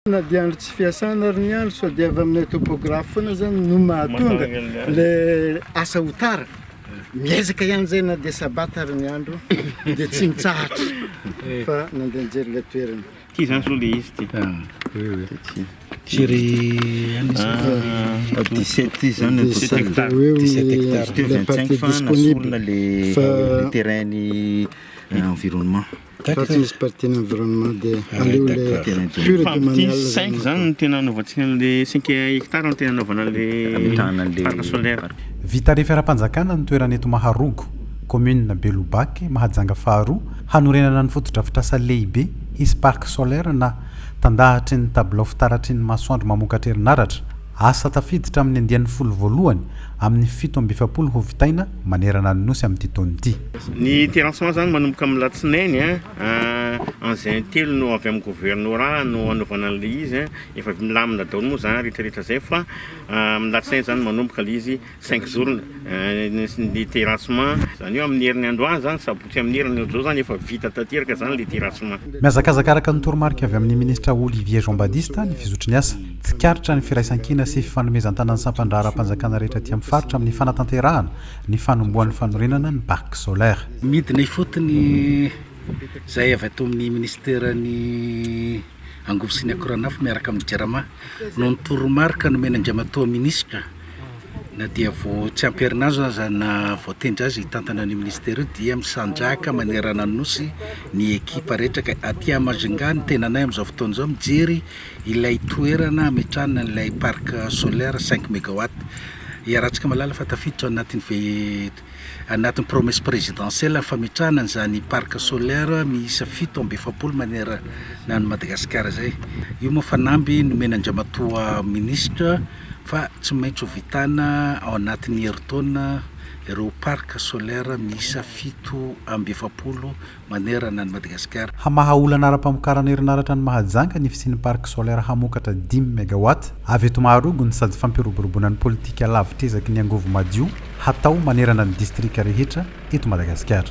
na dia andro tsy fiasana ary ny andro sao dia avy aminay topographe foana zany no mahatonga le asa ho tara miezaka ihany zay na dia sabata ary ny andro dia tsy mitsahatra eh. fa nandeha nijery le toerana ty zany zao le izy ty ah. Jerry dix-sept ty zany dix-sept hectares dix-sept hectares teo vingt-cinq fa nasorona le terrain-ny environnement Fa tsy misy partie ny environnement dia ah, aleo le pure de manial. Cinq zany no tena anaovantsika an'le cinq hectares no tena anaovana an'le parc solaire. Vita refy ara-panjakana ny toerana eto Maharogo, commune Belobaky, Mahajanga faharoa, hanorenana ny fotodrafitrasa lehibe hisy parc solaire na tandahatry ny tabilao fitaratry ny masoandro mamokatra herinaratra, Asa tafiditra amin'ny andiany folo voalohany amin'ny fito amby efapolo ho vitaina manerana ny Nosy amin'ity taona ity. Ny terrassement izany manomboka amin'ny alatsinainy an, engins intelo no avy amin'ny governorà no hanaovana an'ilay izy an, efa milamina daholo moa izany rehetra rehetra izay fa amin'ny alatsinainy izany manomboka ilay izy. Cinq jours ny terrassement, izany hoe amin'ny herin'ny androany izany, sabotsy amin'ny heriny, ohatr'izao izany efa vita tanteraka izany ilay terrassement. Mihazakazaka araka ny toromarika avy amin'ny Ministra Olivier Jean Badista ny fizotry ny asa. Tsikaritra ny firaisankina sy fifanomezan-tanan'ny sampan-draharaham-panjakana rehetra aty amin'ny faritra amin'ny fanatanterahana ny fanombohan'ny fanorenana ny Parc solaire. Midina ifotony izay avy ato amin'ny Minisiteran'ny angovo sy ny akoranafo miaraka amin'ny Jirama noho ny toromarika nomena Andriamatoa Minisitra. Na dia vao tsy ampy herinandro aza naha-voatendry azy hitantana an'io minisitera io dia misandrahaka manerana ny Nosy ny ekipa rehetra ka aty à Majunga ny tenanay amin'izao fotoana izao mijery ilay toerana hametrahana an'ilay parc solaire cinq megawatt. Iarahantsika mahalala fa tafiditra ao anatin'ny ve- anatin'ny promesse présidentielle ny fametrahana an'izany parc solaire miisa fito amby efapolo manerana an'i Madagasikara izay. Io moa fanamby nomena Andriamatoa Ministra. fa tsy maintsy ho vitana ao anatin'ny herintaona ireo parc solaire miisa fito amby efapolo manerana an'i Madagasikara. Hamaha olana ara-pamokarana herinaratra any Mahajanga ny fisian'ny parc solaire hamokatra dimy megawatt avy eto Maharogony sady fampiroboroboana ny politika lavitr'ezaky ny angovo madio hatao manerana ny distrika rehetra eto Madagasikara.